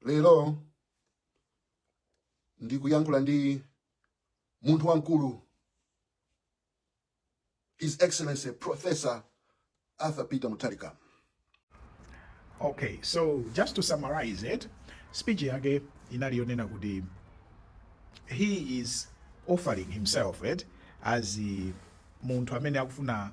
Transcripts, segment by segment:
lero ndikuyankhula ndi munthu wamkulu his excellency professor arthur peter mutharika okay so just to summarize eti speech yake inali yonena kuti he is offering himself eti as munthu amene akufuna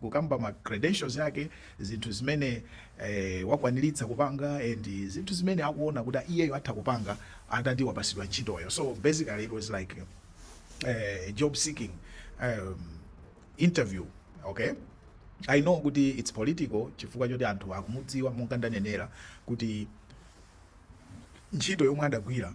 kukamba ma credentials yake, zinthu zimene wakwanilitsa kupanga and zinthu zimene akuona kuti iyeyo atha kupanga atati wapasidwa ntchitoyo so basically it was like a job seeking interview okay. I know kuti its political chifukwa choti anthu akumudziwa monga ndanenera kuti ntchito yomwe adagwira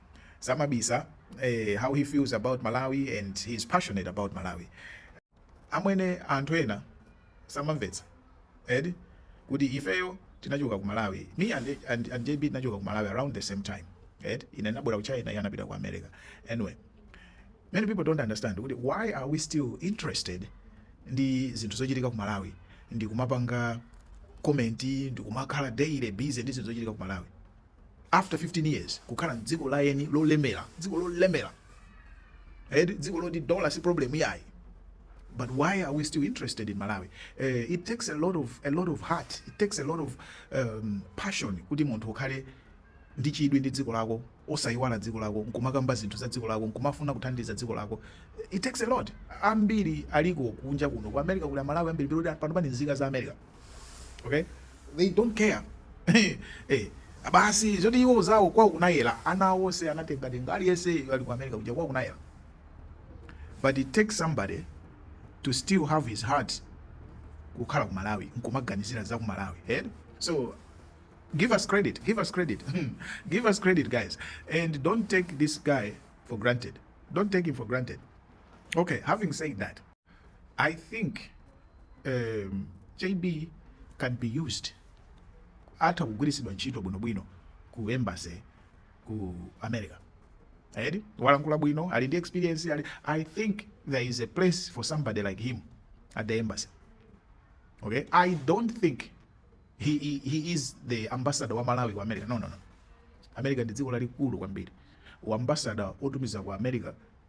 samabisa eh, how he feels about malawi and he is passionate about malawi amwene anthu ena samamvetsa eti kuti ifeyo tinachoka ku malawi me and, and, and jb tinachoka ku malawi around the same time eti ine nabwera ku china iye anapita ku america anyway many people don't understand kuti why are we still interested ndi zinthu zochitika ku malawi ndi kumapanga comment ndi kumakhala daily busy ndi zinthu zochitika ku malawi after 15 years kukhala mdziko la eni lolemela dziko lolemela eti dziko loti dollar si problem iyayi but why are we still interested in malawi uh, it takes a lot of a lot of heart it takes a lot of um, passion kuti munthu ukhale ndi chidwi ndi dziko lako osayiwala dziko lako nkumakamba zinthu za dziko lako nkumafuna kuthandiza dziko lako it takes a lot ambiri aliko kunja kuno ku america kuli amalawi ambiri pano pano pali nzika za america Okay? They don't care. hey, eh, basi zoti iwo zawo kwa kunayela ana onse anatenga tenga aliyense ali ku America kuja kwa kunayela. But it takes somebody to still have his heart kukhala ku Malawi nkumaganizira za ku Malawi. Eh? So give us credit, give us credit. Hmm. give us credit guys and don't take this guy for granted. Don't take him for granted. Okay, having said that, I think um, JB can be used atha kugwiritsidwa ntchito bwinobwino ku embassy ku America eti walankhula bwino ali ndi experience ali I think there is a place for somebody like him at the embassy okay I don't think he, he, he is the ambassador wa Malawi ku America no no no America ndi dziko lalikulu kwambiri uambassador otumiza ku America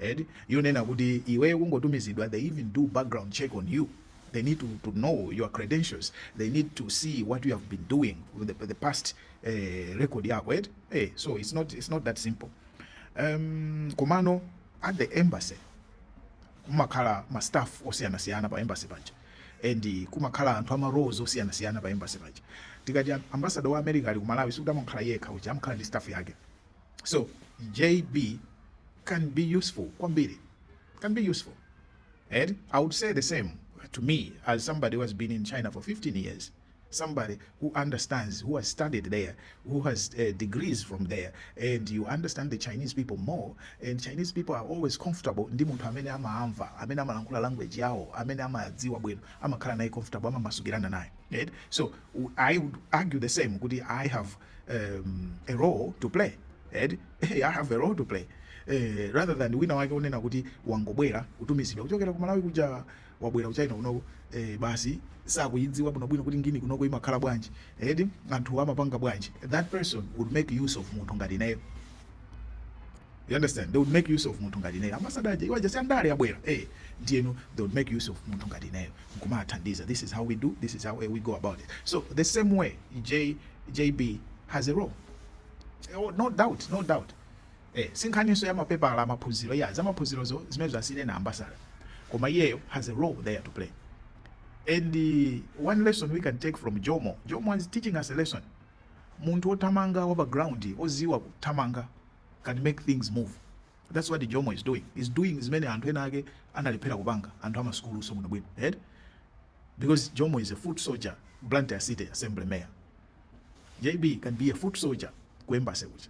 eti yonena kuti iweyo kungotumizidwa they even do background check on you they need to to know your credentials they need to see what you have been doing the, the past eh, record yako eti eh, so it's not, it's not that simple um, komano at the embassy kumakhala ma staff osiyanasiyana pa embassy paja and kumakhala anthu ama roles osiyanasiyana pa embassy paja tikati ambassador wa america ali ku malawi sikuti amakhala yekha uja amakhala ndi staff yake So JB can be useful kwambiri can be useful and I would say the same to me as somebody who has been in China for 15 years somebody who understands, who has studied there, who has uh, degrees from there, and you understand the Chinese people more. And Chinese people are always comfortable ndi munthu amene amaamva, amene amalankhula language yawo, amene amadziwa bwino, amakhala naye comfortable, amamasukirana naye. Right? So I would argue the same kuti I have um, a role to play ed hey, i have a role to play eh, rather than wina wake onena kuti wangobwera kutumizidwa kuchokera ku malawi kuja wabwera kuchina kunoko eh, basi sakuyidziwa bwinobwino kuti ngini kunoko imakhala bwanji edi anthu amapanga bwanji that person would make use of munthu ngati ineyo You understand? They would make use of munthu ngati ineyo. Ambassador awaja si andale abwera. Eh, ndiyeno they would make use of munthu ngati ineyo. Nkumathandiza. This is how we do. This is how eh, we go about it. So the same way J JB has a role oh no doubt no doubt eh sinkhaninso ya mapepala amaphunziro ya zamaphunzirozo zimenezo asiyireni ambasada koma iyeyo has a role there to play and uh, one lesson we can take from jomo jomo is teaching us a lesson munthu othamanga wapa ground oziwa kuthamanga can make things move that's what jomo is doing he's doing zimene anthu ena ake analephera kupanga anthu amasukuluso bwinobwino right? Because Jomo is a foot soldier Blantyre city assembly mayor JB can be a foot soldier ku embassy kuja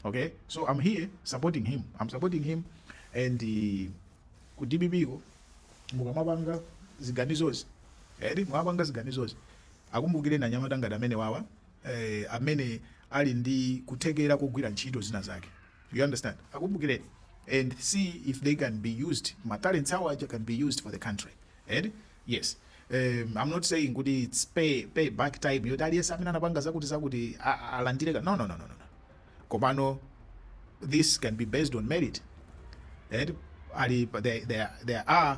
okay so I'm here supporting him I'm supporting him and uh, ku DPP ko mukamapanga ziganizozi eti eh, mwapanga ziganizozi akumbukireni anyamata ngati amenewawa eh, amene ali ndi kuthekera kogwira ntchito zina zake you understand akumbukireni and see if they can be used ma talents awo aja can be used for the country eti yes um, i'm not saying kuti its pay, pay back time yoti aliyense amene anapanga zakuti zakuti a- a- alandire ka- no, no, no, no, no. no. komano this can be based on merit and ali there, there, there are